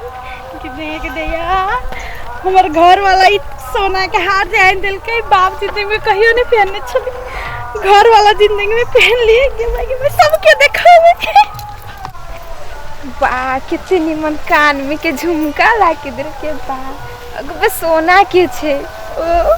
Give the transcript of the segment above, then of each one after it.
कि देख दैया हमर घर वाला ई सोना के हार जे आनि देलकै बाप जिंदगी में कहियो नहीं पहनने छली घर वाला जिंदगी में पहन लिए कि मैं कि मैं सबके देखावे बा कितने निमन कान में के झुमका ला के दिल के बा अगबे सोना के छे ओ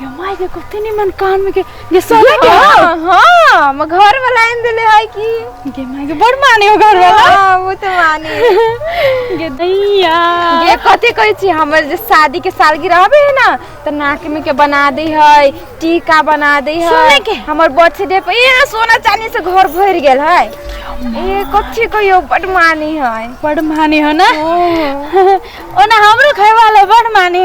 ये माय के कते निमन कान में के ये सोना के हां हां हम घर वाला आइन देले है की ये माय के बड़ माने हो घर वाला हां वो तो माने ये दैया ये कते कहै छी हमर जे शादी के सालगिरह रहबे है ना त नाक में के बना दे है टीका बना दे है सोना के हमर बर्थडे पे ये सोना चांदी से घर भर गेल है ये कथी कहियो बड़ माने है बड़ माने हो ना ओ ना हमरो खाए वाला बड़ माने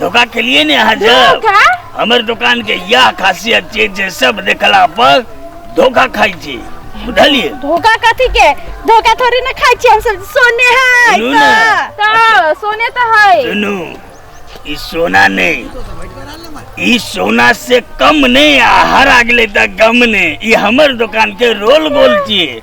धोखा के लिए ने यहाँ जब हमर दुकान के यह खासियत छै जे सब देखला पर धोखा खाई छी बुझलिए धोखा कथी के धोखा थोड़ी ना खाई छी हम सब सोने है सुनू ना। तो सोने तो है सुनू ई सोना नहीं ई सोना से कम नहीं आ हर अगले तक गम नहीं ई हमर दुकान के रोल गोल छिए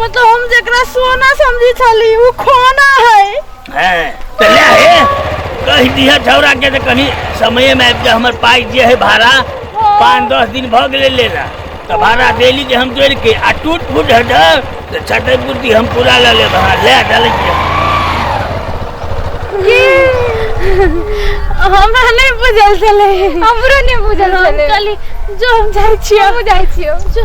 मतलब हम जेकरा सोना समझी छली उ खोना है हैं तो ले हे कह दिया छौरा के तो कहीं समय में आबि जा हमर पाई जे है भाड़ा पाँच दस दिन भऽ गेलै लेला तो भाड़ा देली जे हम जोड़ि के आ टूट फूट हटा तो छठे बुद्धि हम पूरा लऽ लेब अहाँ ले डालै छियै हमरा नहीं बुझल चले हमरो नहीं बुझल चले चली जो हम जाय छियो हम जाय छियो जो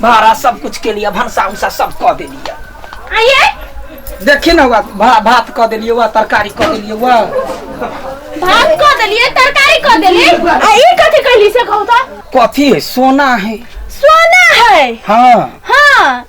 भाड़ा सब कुछ के लिए भनसा उनसा सब कह देलिए आइए देखी ना हुआ भा- भात कह देलिए हुआ तरकारी कह देलिए हुआ भात कह देलिए तरकारी कह देलिए आ ई कथी कहली से कहू तो कथी है सोना है सोना है हाँ हाँ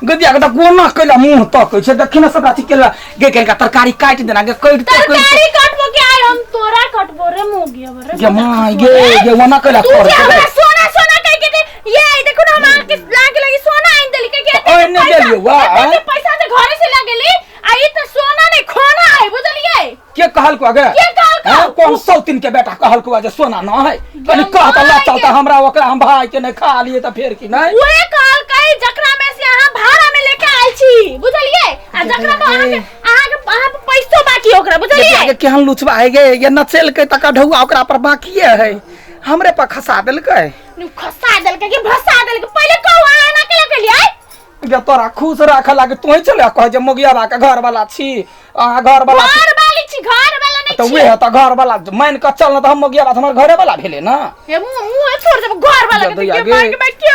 गदिया के कोना कैला मुंह तक छै देखी ना सब अथी केला गे केला तरकारी काट देना गे काट दे तरकारी कटबो के आय हम तोरा कटबो रे मोगिया रे गे माय गे गे वना कैला तू कर जे हमरा सोना सोना कह के दे ये देखो ना हम आके लागे लगी सोना आइन देली के के ओए ने देलिए वाह ये पैसा से घरे से लागे ली आई तो सोना नहीं खोना है बुझलिए के कहल को अगे के कहल को? हाँ, कौन सौतिन के बेटा कहल को जे सोना ना है कनी गंगा कहता ला माई चलता के- हमरा ओकरा हम भाई के नहीं खा लिए त फेर की नहीं उहे कहल कई जकरा में से अहाँ भाड़ा में लेके आइल छी बुझलिए आ जकरा पर अहाँ के अहाँ के अहाँ पर पैसो बाकी है ओकरा बुझलिए आगे केहन लुचबा है गे ये नचेल के तक ढौआ ओकरा पर बाकी है हमरे पर खसा देलकै नु खसा देल के कि भसा देल के पहिले कहू अहाँ ना केला के लिए जे तोरा खुश राखे लागे तोही चले कह जे मोगिया बा के घर वाला छी अहाँ घर वाला छी घर वाली छी घर वाला नहीं तऽ छी उहे तऽ घर वाला मान कऽ चल न तऽ हम मोगिया बा तऽ हमर घरे वाला भेलै ने ये मुंह मुंह छोड़ देब घर वाला के जब देखिए आगे- मार के बैठ के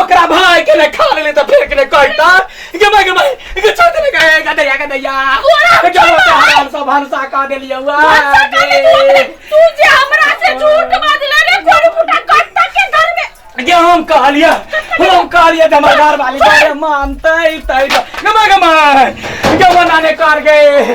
ओकरा भाई के ने खा लेले त फेर के ने कहता गे भाई गे भाई गे छोड़ दे गे गे दैया गे दैया ओरा क्या होता है हम सब भरसा का दे लिया हुआ भरसा का दे लिया हुआ। तू जे हमरा से झूठ बाजले रे कोन फुटा कत्ता के घर में गे हम कह लिया हम कह लिया धमादार वाली गे मानते तई गे भाई गे भाई गे बनाने कर गए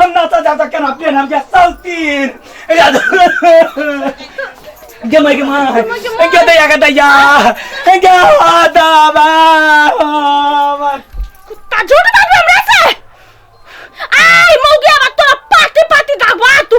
हम नाता जाता केना पेन हम क्या सौतीन गे माय गे माय गे दया गे दया गे दाबा कुत्ता झूठ बात हमरा से आई मौगिया बात तोरा पाती पाती दागवा तू